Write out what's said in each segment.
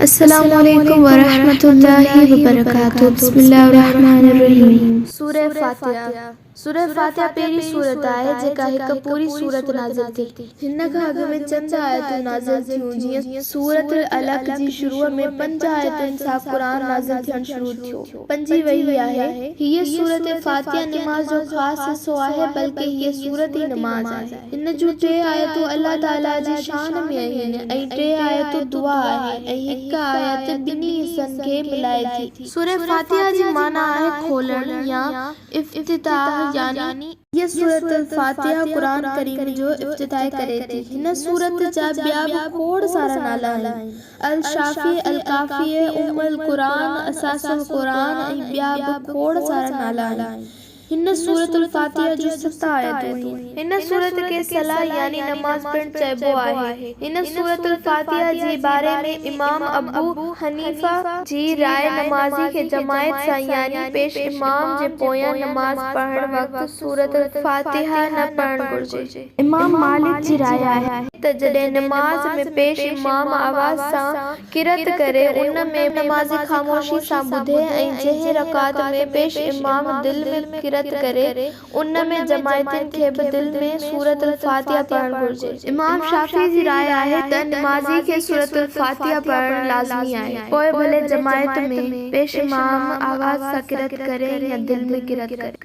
السلام عليڪم ورحمة الله وبرڪاته بسم الله الرحمٰن الرحيم. سورة فاتحة، سورة فاتحة پهرين سورت آهي جيڪا هڪ پوري سورت نازل ٿي. هن کان اڳ ۾ چند آيتون نازل ٿيون جيئن سورة العلق جي شروع ۾ پنج آيتن سان قرآن نازل ٿيڻ شروع ٿيو. بنجي ويئي آهي. هيء سورت فاتحه نماز جو خاص حصو آهي بلڪه هيء سورت ئي نماز آهي. هن جون ٽي آيتون الله تعاليٰ جي شان ۾ آهن ۽ ٽي آيتون دعا آهي ۽ هڪ آيت ٻنهي حصن کي ملائي ٿي. سورة فاتحة جي معنيٰ آهي کولڻ يا افتتاح يعني. هيء سورة الفاتحة قرآن ڪريم جو افتتاح ڪري ٿي. هن سورت جا ٻيا به کوڙ سارا نالا آهن. الشافيء، الڪافيء، ام القرآن، اساس القرآن ۽ ٻيا به کوڙ سارا نالا آهن. هن سورة الفاتحة جون ست آيتون آهن. هن سورت کي صلاة يعني نماز پڻ چئبو آهي. هن سورة الفاتحة جي باري ۾ امام ابو حنيفة جي راء نمازي کي جماعت سان يعني پيش امام جي پويان نماز پڙهڻ وقت سورة الفاتحة نه پڙهڻ گهرجي. امام مالڪ جي راء آهي ته جڏهن نماز ۾ پيش امام آواز سان قرئت ڪري ان ۾ نمازي خاموشي سان ٻڌي ۽ جنهن رڪعت ۾ پيش امام دل ۾ قرئت ڪري ان ۾ جماعتين کي به دل ۾ سورة الفاتحه پڙهڻ گهرجي. امام شافعي جي راء آهي ته نمازي کي سورة الفاتحه پڙهڻ لازمي آهي پوء ڀلي جماعت ۾ پيش امام آواز سان قرئت ڪري يا دل ۾ قرئت ڪري.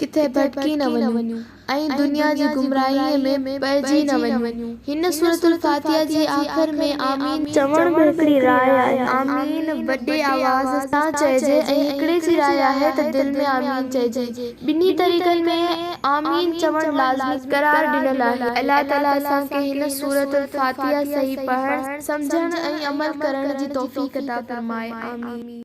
ڪٿي ڀٽڪي نه وڃون ۽ دنيا جي گمراهيء ۾ پئجي نه وڃون. هن سورة الفاتحه جي آخر ۾ آمين. چوڻ به هڪڙي راء آهي. آمين وڏي آواز سان چئجي ۽ هڪڙي جي راء آهي ته دل ۾ آمين چئجي. ٻنهي طريقن ۾ آمين چوڻ لازمي قرار ڏنل آهي. الله تعاليٰ اسان کي هن سورة الفاتحه صحيح پڙهڻ، سمجهڻ ۽ عمل ڪرڻ جي توفيق عطا فرمائي. آمين.